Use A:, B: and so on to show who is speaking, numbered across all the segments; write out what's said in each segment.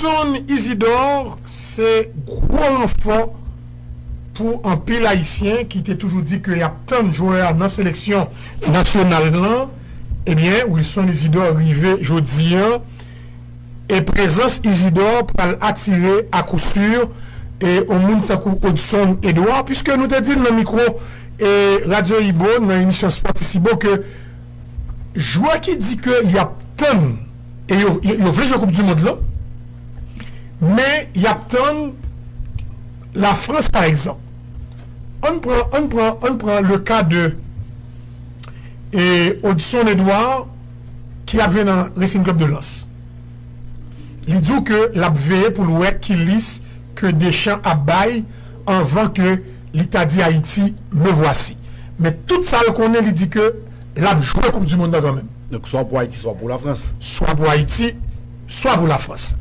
A: Son Isidore se gwo ranfò pou anpil ayisyen ki te toujou di ke yap tann jwè a nan seleksyon nasyonal lan, ebyen Wilson Isidore rive jodi an e prezans Isidore pral atire a kou sur on moun tankou Odson Edouard, puiske nou te di l nan mikwo Radyo Ibo nan emisyon Sportissimo ke Jwè ki di ke y ap tann e yo yo vle jwe koup du mond lan men y ap tann la Frans pa egzanp ann pran ann pran ann pran le ka de e Odson Edouard ki ap jwe nan Racing Club de Lens li di w ke l ap veye pou l wè ki lis ke Deschamps ap bay Anvan ke li ta di Ayiti, me voici. Men tout sa l konnen li di ke l ap jwe koup du mond lan kanmenm. Donk swa pou Ayiti swa
B: pou Lafrans. Swa pou Ayiti
A: swa pou Lafrans.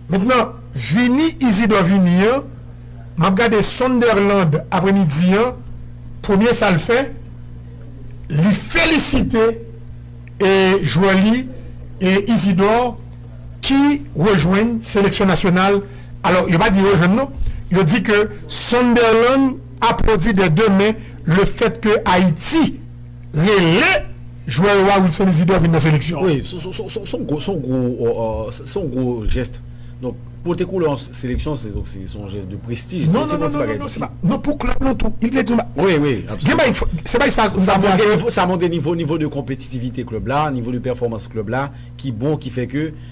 A: Mentnan vini Isidor vini an, m ap gade Sunderland apremidi an, premye sa l fè, li felisite e jwè li e Isidor ki rejwenn seleksyon nasyonal. Alò, yo pa di yo jwenn non. Yo di ke Sunderland aplodi dè de men le fèt ke Ayiti rele jwè yo a, Wilson Isidore, vin nan seleksyon an. Wi,
B: se yon gwo jès. Donk, pote koulè yon seleksyon, se yon jès de prestij. Non, non, non, non, non, se pa.
A: Non, pou klèb lan tou. Il vle di yon bagay. Wi, wi, absolument.
B: Se bay
A: sa. Sa montre
B: nivo de konpetitivite klèb la, nivo de pèfòmans klèb la, ki bon, ki fè ke.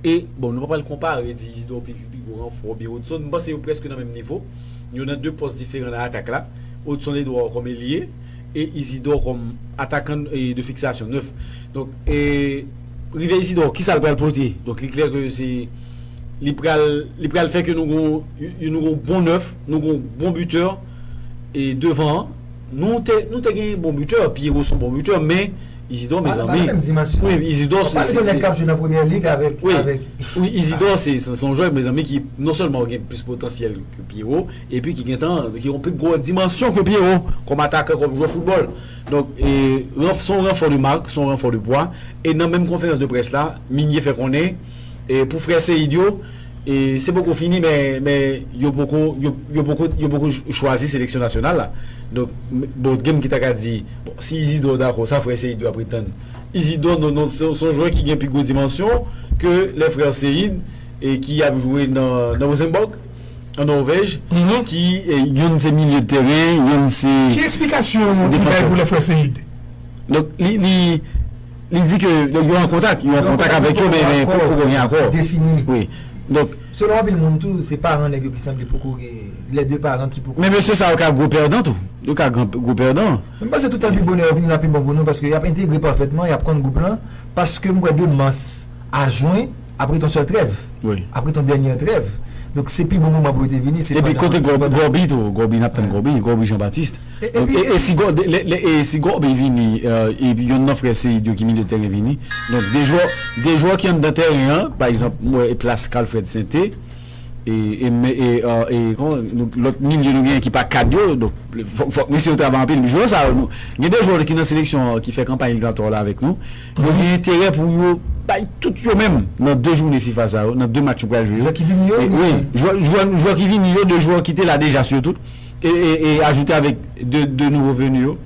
B: E, bon, nou pa pral konpare, di Isidor pi pi gwo ranfò oubyen Hudson, m panse yo prèske nan menm nivo. Yo nan 2 pòs diferan nan atak la. Hudson Edouard kòm elye e Isidor kòm atakan de fiksasyon, nèf. Donk, e, rive Isidor, kisa l pral pote? Donk, li klè ke se, li pral, li pral fè ke nou gon yon, nou gon bon nèf, nou gon bon bitè e devan an. Nou te, nou te gen bon bitè, Pierrot s on bon bitè men. Isidor mezanmi wi isidor
C: se se
B: se
C: wi isidor
B: se se yon jwè mezanmi ki non sèlman gen plis potansyèl ke pyero epi ki gentan ki yon pi gwo dimansyon ke pyero kòm atakan kòm jwè foutbòl donk e son ranfò de marque son ranfò de pwa e nan menm konferans de près la Migné fè konnen. Pou frè Seid yo, se poko fini men yo poko chwazi seleksyon nasyonal la. Donk bon gen moun ki ta ka di bon si Izidor dakò sa frè Seid yo ap pretann. Izidor non non se yon jwè ki gen pi gwo dimansyon ke lè frè Seid ki ap jwe nan Rosenborg an Norvèj ki youn se milye de teren youn se defansè. Ki eksplikasyon
A: li bay pou lè frè Seid? Donk
B: li. Li di ke yo an kontak, yo an kontak avèk yo men poko gen akò. Selon anpil moun tou
C: se paran nèg yo ki sanble poko gen, lè 2 paran ki poko gen. Men mesye sa yo ka gwo pèdan
B: tou, yo ka gwo pèdan. Mwen panse toutan l pi bonè
C: yo vini la pi bon pou nou paske y ap entegre pafètman, y ap konn gwoup lan paske m kwè de mas a jwen ap ret yon sèl trèv, ap ret yon dènyè
B: trèv
C: donk se pi bon moman pou yo te vini se pandan. Epi kote
B: Gòbi tou, Gòbi n ap tann Gòbi, Gòbi Jean Baptiste. Si Goby vini e yonn nan frè Seïde yo ki milye de tèren vini, donk 2 jwè, 2 jwè ki anndan tèren an, pa egzanp m wè plas Carl Fred Sainté e lòt milye nou genyen ki pa kad yo, donk fòk mesye yo travay anpil. Jwè sa yo, gen 2 jwè ki nan seleksyon an ki fè kanpay eliminatwa la avèk nou, yo gen enterè pou yo bay tout yo menm nan 2 jounen fifa sa yo, nan 2 match yo pral jwe yo. Jwè ki vini yo?
C: Wi,
B: jwè ki vini yo, 2 jwè ki te la deja sitou. E ajoute avèk 2 nouvo venu yo.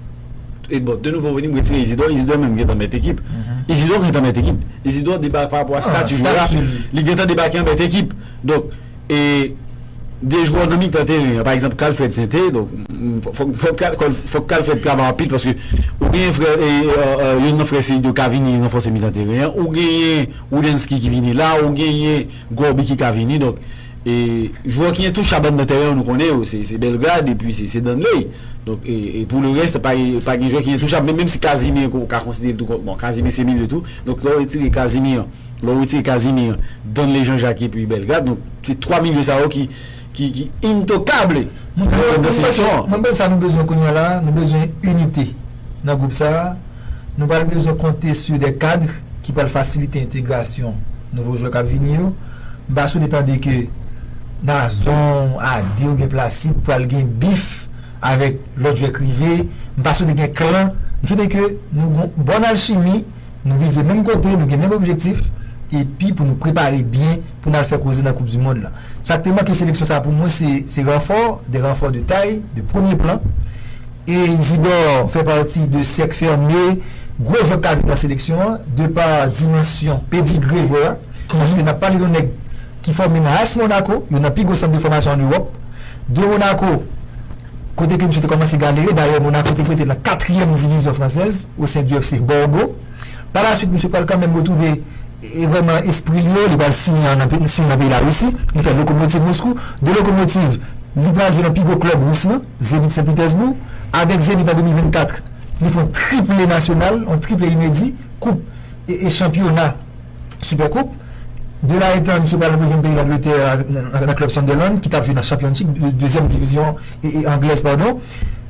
B: E bon 2 nouvo venu m retire Isidor. Isidor menm gentan mèt ekip. Isidor gentan mèt ekip. Isidor debake pa rapò a stati jwè a. Li gentan debake an mèt ekip. Donk e 2 jwè nan mitan teren an. Pa egzanp Kalfred Sente. Fòk Kalfred travay anpil paske ou genyen frè e youn nan frè Seido ka vini ranfòse mitan teren an. Ou genyen Woudensky ki vini la. Ou genyen Gòbi ki ka vini. Donk. E jwè ki entouchabn nan tèren an nou konnen yo se Belgrade epi se Danley donk e pou le rèst pa pa gen jwè ki entouchabn menm si Casimir ke w ka konsidere l tou kon bon Casimir se milieu tou donk lè w retire Casimir lè w retire Casimir Danley Jean Jacques epi Belgrade donk se 3 milieu sa yo ki ki ki intocable nan nan
C: seksyon an. Mwen panse sa nou bezwen kounya la nou bezwen inite nan gwoup sa. Nou pral bezwen konte su de kadr ki pral fasilite entegrasyon nouvo jwè kap vini yo. M pa swete tande ke Nazon, Ade oubyen Placide pral gen bif avèk lòt jwè k rive. M pa swete gen klan. M swete ke nou gon bòn alchimi, nou vize menm kote, nou gen menm objektif epi pou nou prepare byen pou n al fè koze nan koup du mond lan. Sa k te manke seleksyon sa pou mwen se ranfò, de ranfò de tay, de premye plan. E Isidor fè pati de sèk fème gwo jwè k ka vin nan seleksyon an de pa dimansyon, pedigre jwè a. Paske n ap pale yon nèg ki fòme nan as Monaco, youn nan pi gwo sant de fòmasyon ann Ewòp. De Monaco, kote ke misye te kòmanse galere. Dayè Monaco te prete l nan katriyèm divizyon fransèz o sen di FC Borgo. Pa la swit misye pral kanmenm retwouve vrèman espri l yo. Li pral siyen an nan peyi Larisi. Li fè Lokomotiv Moskou. De Lokomotiv, li pral jwe nan pi gwo klèb Rous lan. Zenit Sen Pitèsboug, avèk Zenit an 2024, li fè yon triple nasyonal, yon triple inedi, koup e chanpyona, Super Koup. De la etan, misye pral rejwenn peyi Langletè nan klèb Sunderland ki tap jwe nan Championship, dezyèm divizyon anglèz padon.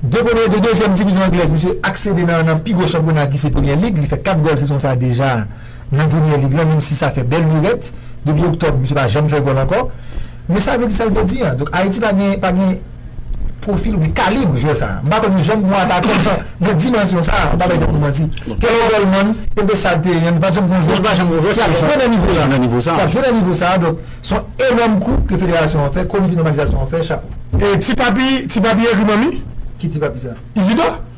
C: De premye, de dezyèm divizyon anglèz, misye aksede nan pi gwo chanpyona ki se Premier League, li fè 4 gòl sezon sa deja. nan Premier League lan, menmsi sa fè bèl lurèt, depi oktòb misye pa janm fè gòl ankò, men sa vle di sa l vle di an, donk Ayiti pa gen pa gen pwofil oubyen kalib jwè sa, m pa konn janm gon atakè nan dimansyon sa, m pa bay tèt mwen manti, ke l Goldman, kenbe sa l te ye an, nou pa t janm gon jwè ki ap jwe nan nivo sa, ki ap jwe nan nivo sa, donk s on enòm kou ke federasyon an fè, komite nòmalizasyon an fè, chapo. E ti papi, ti papi egri manmi? Ki ti papi sa? Izidò?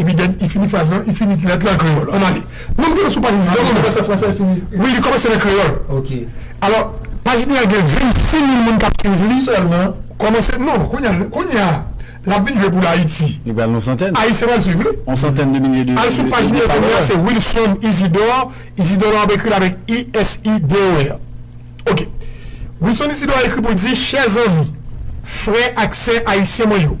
A: Epi dèn i fini fraz lan, i fini lèt lan an kreyòl. Ann ale. Nou rive nan sou paj 19 nou. Li kòmanse an franse, li fini. Wi, li
C: kòmanse nan kreyòl.
A: Ok. Alò, paj li a gen 26 mil moun k ap suiv li. Sèlman. Kòmanse, non, kounye a, kounye a, l ap vin jwe pou l Ayiti. Li pral nan yon santèn. Ayisyen
B: pral suiv li. Yon
A: santèn de milye
B: de. Al sou paj li a kounye a,
A: se Wilson Isidor. Isidor la, w ap ekri l avèk ISIDOR. Ok. Wilson Isidor ekri pou l di, Chè zanmi, frè ak sè ayisyen mwen yo.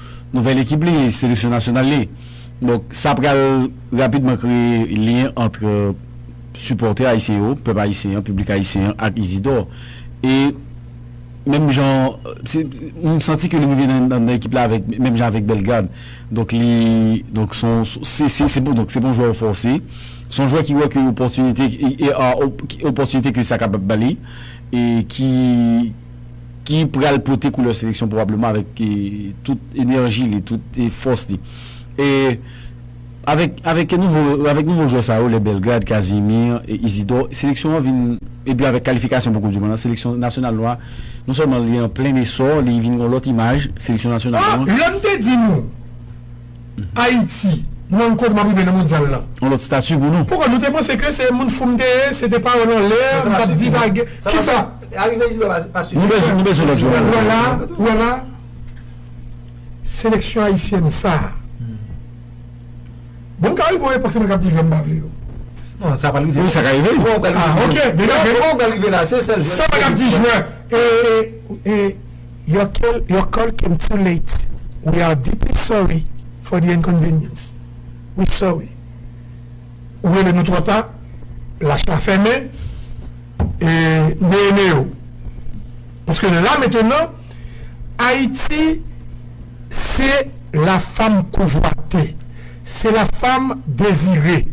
B: Nouvèl ekip li, seleksyon nasyonal li. Donk sa pral rapidman kreye lyen antre sipòtè ayisyen yo, pèp ayisyen an, piblik ayisyen an ak Izidor. E menm jan, se, m santi ke li rive nan ekip la avèk, menm jan avèk Bellegarde. Donk li, donk s on, se, se, se p on, donk se p on jwè yo fòse. S on jwè ki wè ke opòtinite, e a, opòtinite ke sa kapab ba li e ki. ki pral pote koulè seleksyon pwobableman avèk tout enèji li, tout fòs li. E avèk avèk nouvo avèk nouvo jwè sa yo lè Belgrad, Casimir, Isidor seleksyon an vin epi avèk kalifikasyon pou koup di mond lan seleksyon nasyonal nou a non sèlman li an plen esò li vin gon lòt imaj seleksyon
A: nasyonal
B: nou an.
A: Lè m
B: te di
A: nou Ayiti,
B: m wè
A: yon kote m ap rive nan mondyal lan. Yon lòt stati pou nou.
B: Poukò nou te panse ke se
A: moun fou m te ye, se te pawòl an lè, m t ap divage. Kisa? Arive Isidò pa
C: sifi. Nou bezwen lòt jouman
B: pou nou. Ou wè la,
A: seleksyon ayisyèn sa a, bon m ka rive yon epòk se mwen k ap di jwè m pa vle yo. Non, sa pa
C: rive. Wi, sa ka rive.
B: Kouman
C: w pral rive la? Sa mwen ap di jwè,
A: e, e. Your call your call came too late we are deeply sorry for the inconvenience we sorry ou rele nou twò ta lach la fèmen e neye neye w paske la mentenan Ayiti se la fam konvwate se la fam dezire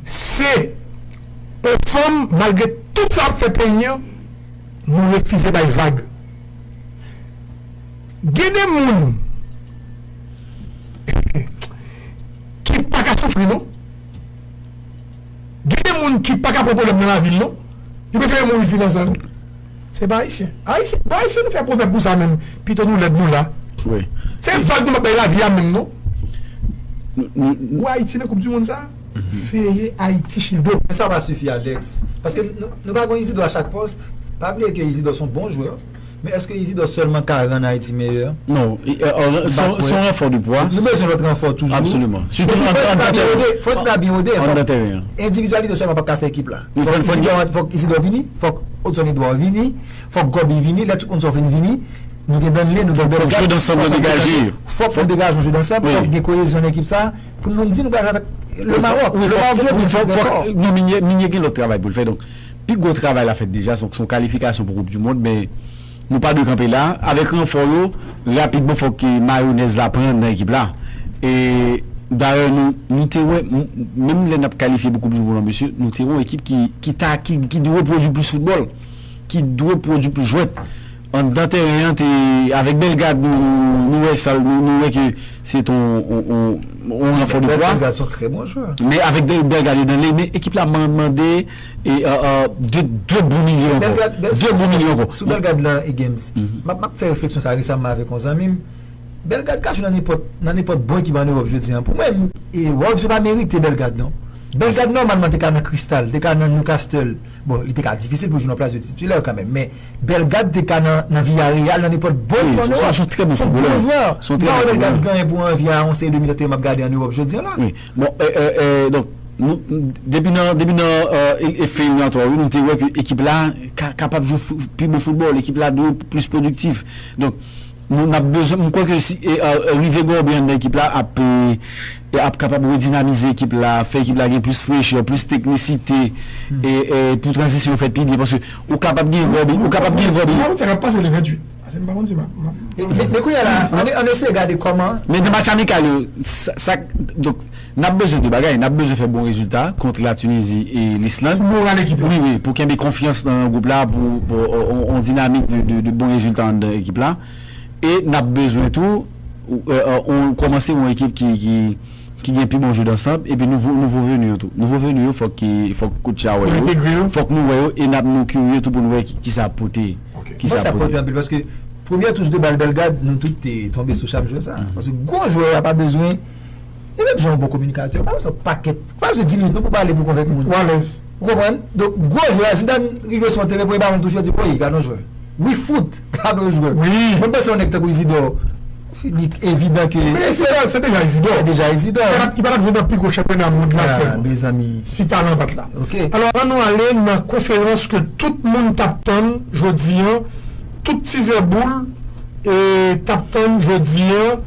A: se on fanm malgre tout sa l ap fè peyi an Nou refize bay vag. Gen de moun ki pa ka soufri non. Gen de moun ki pa ka pran pwoblèm nan lavi l non. Yo prefere mouri vivan san li. Se pa Ayisyen. Ayisyen, bon Ayisyen nou fè pwovèb pou sa menm. Pito nou lèd nou la. Se
B: vag nou p ap
A: bay lavi a menm non. Ou wè Ayiti nan koupdimonn sa a? veye Ayiti Childo. Men sa pa sifi Alex,
C: paske nou pa gon Izidò a chak pòs, pa bliye ke Izidò son bon jwè, men eske Izidò sèlman ka rann Ayiti meyè? Non,
B: son ranfò de pwa. Nou bezwen lòt ranfò toujou.
C: Absoliman. Sitou nan tèren an. Fò ekip la byen wode. An nan tèren an. Endividyalite sèlman pap ka fè ekip la. Fòk Izidò vini, fòk Odson Edouard vini, fòk Gòbi vini, lè tout moun sa yo fin vini, nou gen Danley, nou gen Bellegarde, fòk sa degaje.
B: Fòk nou degaje yon
C: jeu d'ensemble, fòk gen koyezyon nan ekip sa. Pou nou di nou pral jwe avèk le Maroc. Le Maroc jwe pou
B: jwe dèkò. Non Minye, Minye gen lòt travay pou l fè. Donk, pi gwo travay la fèt deja. Donk, se yon kalifikasyon pou koup dimond. Men, nou pa dwe kanpe la. Avèk ranfò yo, rapidman fòk mayonèz la pran nan ekip la. E, dayè, nou, nou te wè, menm lè n ap kalifye pou koup dimond lan, mesye, nou te wè yon ekip ki, ki ta, ki, ki dwe pwodui plis foutbòl. Ki dwe pwodui plis jwèt. Anndan tèren an te avèk Bellegarde nou wè sa nou wè ke se te yon ranfò de pwa. Bellegarde se yon trè bon jwè.
C: Men avèk Bellegarde
B: yo nan lay men ekip la mande 2 bon milye ankò. Bellegarde sou Bellegarde lan Games
C: map fè refleksyon sa resamman avèk yon zanmi m. Bellegarde ka jwe nan nenpòt bon ekip an Europe jodi an. Pou mwen Wolves yo pa merite Bellegarde non. Bellegarde nòmalman te ka nan Crystal, te ka nan Newcastle. Bon, li te ka difisil pou l jwenn yon plas de titilè kanmenm, men Bellegarde te ka nan Villareal, nan nenpòt bon ekip an Ewòp. Son trè bon foutbolè.
B: Son bon jwè. Son trè bon foutbolè. Mwen
C: pa wè Bellegarde genyen pou anvi a yon seri de milieu de teren m ap gade an Ewòp jodi an la. Wi. Bon,
B: donk, nou, depi nan, depi nan fè eliminatwa yo, nou te wè ke ekip la kapab jwe pi bon foutbòl, ekip la dwe plis pwodiktif. Donk. Nou nap bezwen, m kwè ke si rive gen yon byen anndan ekip la ap ap kapab redinamize ekip la, fè ekip la gen plis frechè, plis teknisite e pou tranzisyon fèt pi byen paske ou kapab gen Robin, ou kapab gen Robin. M pa
A: konn sa kap pase le 28 paske m pa konn si map map. Men kounya
C: la ann eseye gade kòman. Men nan match amikal yo
B: sak donk. N ap bezwen 2 bagay, n ap bezwen fè bon rezilta kont La Tunizi e Lisland. Pou moral ekip la. Wi, wi,
A: pou kenbe konfyans
B: nan gwoup la, pou yon dinamik de bon rezilta anndan ekip la. E n ap bezwen tou kòmanse yon ekip ki gen pi bon jwè dansanb, epi nouvo venu yo tou. Nouvo venu yo fòk kotchi a wè yo. Pou entegre yo. Fòk nou wè yo e n ap nou kirye tou pou nou wè ki sa ap pote. Ok. Mwen panse sa ap pote
C: anpil paske premyè touch de bal Bellegarde nou tout te tonbe sou cham jwè sa a. Paske gwo jwè a pa bezwen. Yo te bzwen yon bon kominikatè. Yo pa bzwen pakèt. Yo pa bzwen 10 minit non pou pale pou konvenk moun. Ou alèz. Ou konprann? Donk, gwo jwè a, Zidane rive sou yon teren, premye balon l touche, l di, Woy, gad yon jwè. Wi fout! Gad yon jwè. Wi! Mwen panse yon nèg
A: tankou Izidò,
C: li evidan ke. Men Izidò, se deja
A: Izidò. Se deja Izidò. Li pa t ap jwe nan pi gwo chanpyona mond lan atyèlman. A, mezanmi. Si
C: talan bat la.
A: Ok. Alò, an nou ale
C: nan
A: konferans ke tout moun t ap tann jodi an, tout tizè boul e t ap tann jodi an.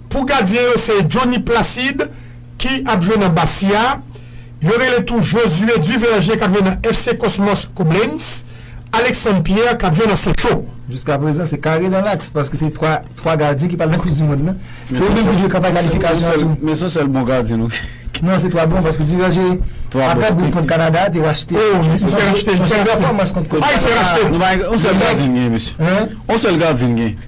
A: Pou gadyen yo se Johnny Placide ki ap jwe nan Bastia, yo rele tou Josué Duverger k ap jwe nan FC Cosmos Koblenz, Alexandre Pierre k ap jwe nan Sochaux. Jiska prezan se
C: kare dan laks paske se 3 3 gadyen ki pral nan koup
B: di
C: mond lan. Se
B: yo
C: menm ki jwe kanpay
B: kalifikasyon
C: an tou. Men
B: son
C: sèl bon gadyen
B: nou
C: gen. Non
B: se 3 bon paske
C: Duverger aprè bout kont Kanada a te
B: rachte.
C: Oh wi li te rachte. Son sèl
A: pèfòmans kont
C: Kosova. Ayisyen rachte. Nou pa
A: gen on sèl gadyen n
B: gen mesye. On sèl gadyen
C: n gen.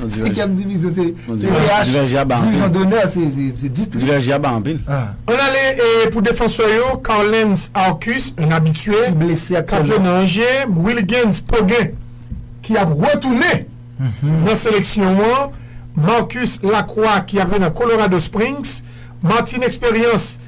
C: Senkyèm divizyon se divizyon donè se distri. Diverge a ba anpil.
B: Ann ale
A: pou defansè yo, Carlens Arcus, un habitue, k ap jwe
C: nan Angers, Wilgens
A: Poguin ki ap retounen nan seleksyon an, Marcus Lacroix ki ap jwe nan Colorado Springs, Martin Expérience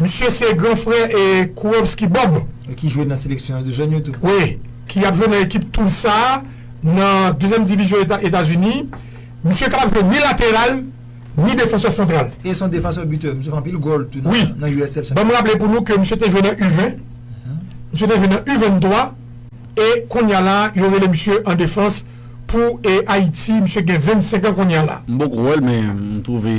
A: Misye se gran frè Kurovski Bob. Ki jwe nan seleksyon
C: jèn yo tou. Wi, ki ap jwe
A: nan ekip Tulsa a nan dezyèm divizyon Etazini. Misye kapab jwe ni lateral, ni defansè santral. E se yon defansè bitè.
C: Misye fè anpil gòl tou nan USL Championship. Wi. Ban m
A: raple
C: pou nou ke
A: misye te jwe nan U 20, misye te jwe nan U 23 e kounya la yo rele misye an defans pou Ayiti. Misye gen 25 an kounya la. M poko wèl men
B: m twouve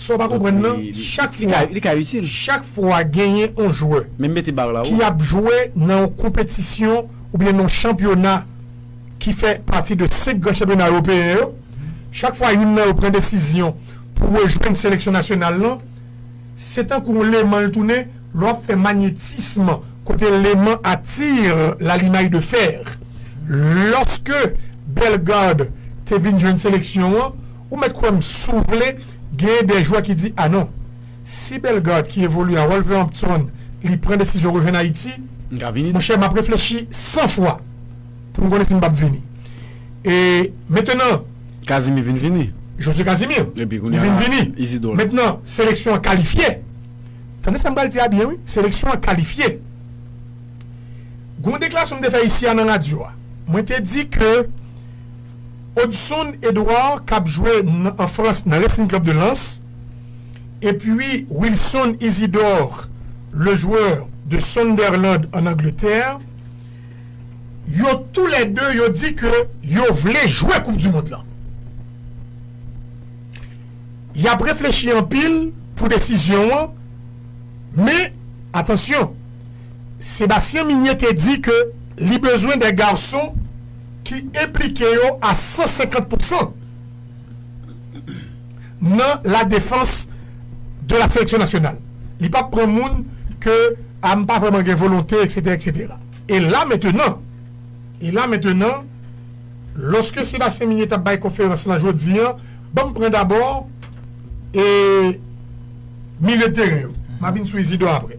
B: Sa w pa konprann lan,
A: chak fwa, chak fwa genyen yon jwè ki ap
B: jwe nan
A: yon konpetisyon oubyen nan yon chanpyona ki fè pati de 5 gran chanpyona ewopeyen yo, chak fwa youn nan yo pran desizyon pou rejwenn seleksyon nasyonal lan, se tankou yon leman l tounen, lè w ap fè manyetism kote leman attire l'alimaille de fer. Lòske Bellegarde te vin jwenn seleksyon an. Ou mèt kwè m si w vle, genyen de jwè ki di anon. Si Bellegarde ki evolye a Wolverhampton li pran desizyon rejwenn Ayiti, monchè m ap reflechi 100 fwa pou m konnen si m p ap vini. E mentenan. Casimir vin vini.
B: Jose Casimir.
A: Li vin vini. Mentenan, seleksyon an kalifye. Tande sa m pral di a byen wi. Seleksyon an kalifye. Gon deklarasyon m te fè isi a nan radyo a. Mwen te di ke. Odson Edouard k ap jwe an Frans nan Racing Club de Lens epi Wilson Isidore le joueur de Sunderland an Angletè, yo tou lè 2 yo di ke yo vle jwe koup du mond lan. Y ap reflechi anpil pou desizyon an men atansyon Sébastien Migné te di ke li bezwen de garçon ki enplike yo a 150 pousan nan la defans de la seleksyon nasyonal. Li pap pran moun ke a m pa vrèman gen volonte eksetera eksetera. E la mentenan, e la mentenan, lòske Sébastien Migné t ap bay konferans lan jodi an, ban m pran dabò e milye de teren yo. M a vin sou Isidor aprè.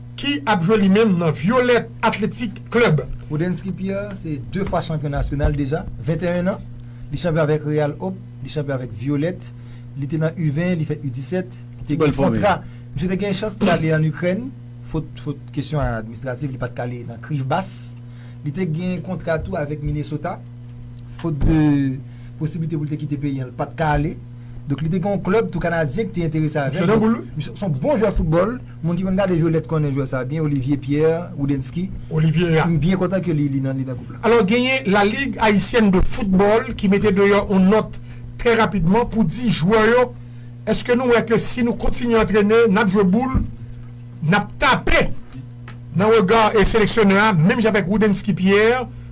A: ki ap jwe li menm nan Violette Athletic Club. Roudensky Pierre
C: se 2 fwa chanpyon nasyonal deja, 21 an, li chanpyon avèk Real Hope, li chanpyon avèk Violette, li te nan U-20, li fè U-17, li te gen kontra, misye te gen chans pou l ale an Ikrèn, fot fot kesyon administrativ li pat ka ale nan Krivbas, li te gen kontra tou avèk Minnesota, fot de posiblite pou l te kite peyi an l pat ka ale. Donk li te gen yon klèb tou kanadyen ki te enterese avè l. Misye nan boul wi. Misye se yon
A: bon jwè
C: foutbòl. Moun ki konn gade Violette konnen jwè sa a byen, Olivier Pierre Woudensky. Olivier a. M byen
A: kontan ke li
C: li nan gwoup la. Alò genyen La Ligue
A: Haïtienne de Football ki mete deyò yon nòt trè rapidman pou di jwè yo èske nou wè ke si nou kontinye antrene, n ap jwe boul, n ap tape nan rega seleksyonè a menm jan avèk Woudensky Pierre.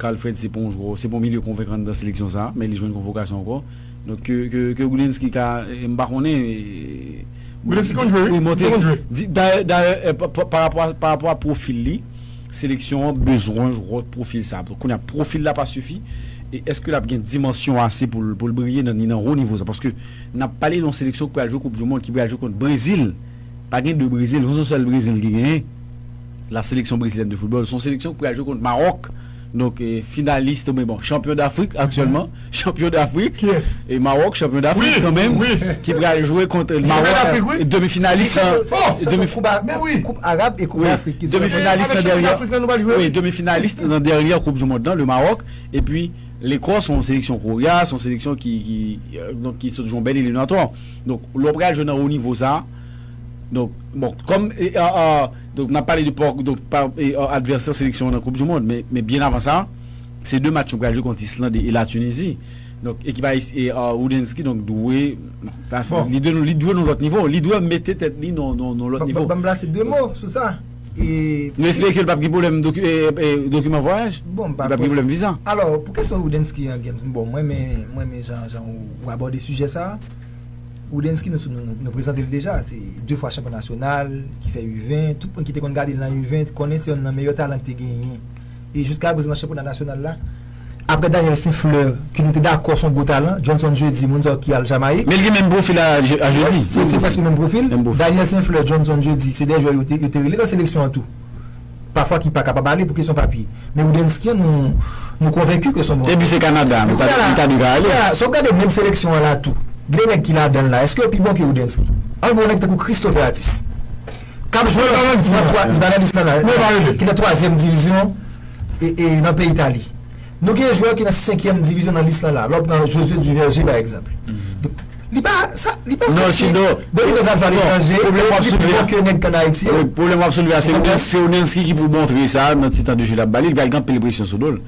B: Carl Fred se pa yon jwè, se pa yon milye konvenkan nan seleksyon sa, men li jwenn konvokasyon ankò. Donk ke ke Wilensky ka m pa konnen Wilensky konn jwe wi, misye konn jwe. Dayè dayè parapò a parapò a pwofil li, seleksyon an bezwen jwè pwofil sa. Kounye a pwofil la pa sifi e èske l ap gen dimansyon ase pou l pou l briye nan ni nan wo nivo sa paske n ap pale de yon seleksyon ki pral jwe koupdimond, ki pral jwe kont Brezil. Pa gen 2 Brezil, son son sèl Brezil ki genyen. La Sélection Brésilienne de Football, son seleksyon ki pral jwe kont Maròk. Donk finalist oubyen bon chanpyon Dafrik aktyèlman, chanpyon Dafrik. Kiyès? E Maròk, chanpyon Dafrik kan menm. Wi, wi. Ki pral jwe kont Maròk. Ki chanpyon Dafrik wi. Demi finalist nan. Ki chanpyon, se demi koup,
C: men wi. Koup Arab e koup Dafrik ki. Demi finalist nan dèryè. Se avèk
B: chanpyon Dafrik lan nou pral jwe wi. Wi, demi finalist nan dèryè koup du mond lan, le Maròk. Epi Lekòs, son seleksyon korya, son seleksyon ki donk ki sot jwe yon bèl eliminatò. Donk, lè w pral jwe nan wo nivo sa a, donk, bon, kòm, donk, n ap pale de pòk, donk, pa, advèsè seleksyon an nan koup dimond, men, men byen avan sa, se 2 match yo pral jwe kont Islande e Latinizi. Donk, ekip ayis, e, Roudensky, donk, dwe, bon, sa se, li dwe, li dwe nan lòt nivo, li dwe mete tèt li nan, nan, nan lòt nivo. Bon, ban m plase 2 mo sou
C: sa. Nou espere ke l pap gen
B: pwoblèm dokiman vwayaj, li pap gen pwoblèm viza. Alò, pou kesyon Roudensky
C: an James, bon mwen renmen jan ou abòde sijè sa a. Roudensky nou prezante l deja, se 2 fwa chanpyon nasyonal, ki fè U20, tout moun ki te konn gade l nan U20 konnen se yonn nan meyè talan ki te genyen. E jiskaprezan nan chanpyona nasyonal la. Aprè Daniel St-Fleur ke nou te dakò son gwo talan, Johnson Jeudi, moun sa yo ki al Jamayik. Men li gen menm pwofil a
B: Jeudi. Wi, se prèske menm pwofil.
C: Daniel St-Fleur, Johnson Jeudi, se 2 jwè yo te rele nan seleksyon an tou. Pafwa ki pa kapab ale pou kesyon papye. Men Roudensky an nou konvenki ke son bon jwè. Epi se Kanada,
B: li ta dwe ka ale. Kounye a, sa w gade menm seleksyon
C: an la tou, gen de nèg ki ladan l la, èske yo pi bon ke Roudensky? An pran yon nèg tankou Christopher Athis. kap jwe nan Granadista ki nan twazyèm divizyon nan peyi Itali nou gen jwè ki nan senkyèm divizyon nan lis la la lè w pran Josue Duverger pa egzanp li pa li pa fòse bon li pral jwe aletranje pwoblèm w ap
B: soulve a pwoblèm w ap soulve a se Onesky ki pou montre sa nan ti tan de jeu l ap ba li li pral gen anpil presyon sou do l.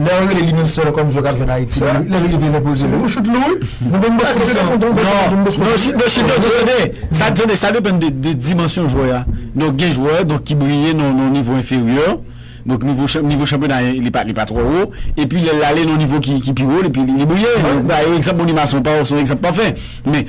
C: Lè yo rele li menm sèl kòm jwè kap jwenn Ayiti li lè li rive li enpoze li. Nou banm bosco kesyon an. Non non chita non tande sa tande sa depann de dimansyon jwè
B: a donk gen jwè donk ki briye nan yon nivo enferyè donk nivo nivo chanpyona li pa li pa twò wo epi lè lale nan yon nivo ki pi wo li briye mwen ba yo egzanp Monimason paw se yon egzanp pafè men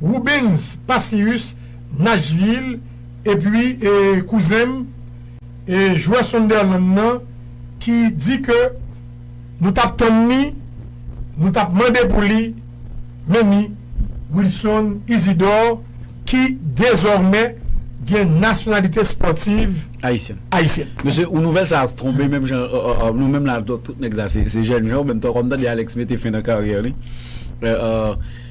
A: Rubens Pacius Nashville epi kouzen m e jwè Sunderland nan ki di ke nou tap tann li, nou tap mande pou li men ni Wilson Isidor ki dezòmè gen nasyonalite spòtiv Ayisyèn.
B: Mesye ou
A: nouvèl sa
B: tonbe menm jan nou menm la tout nèg sa se jènjan menm tan kòm tande Alex mete fen nan karyè li.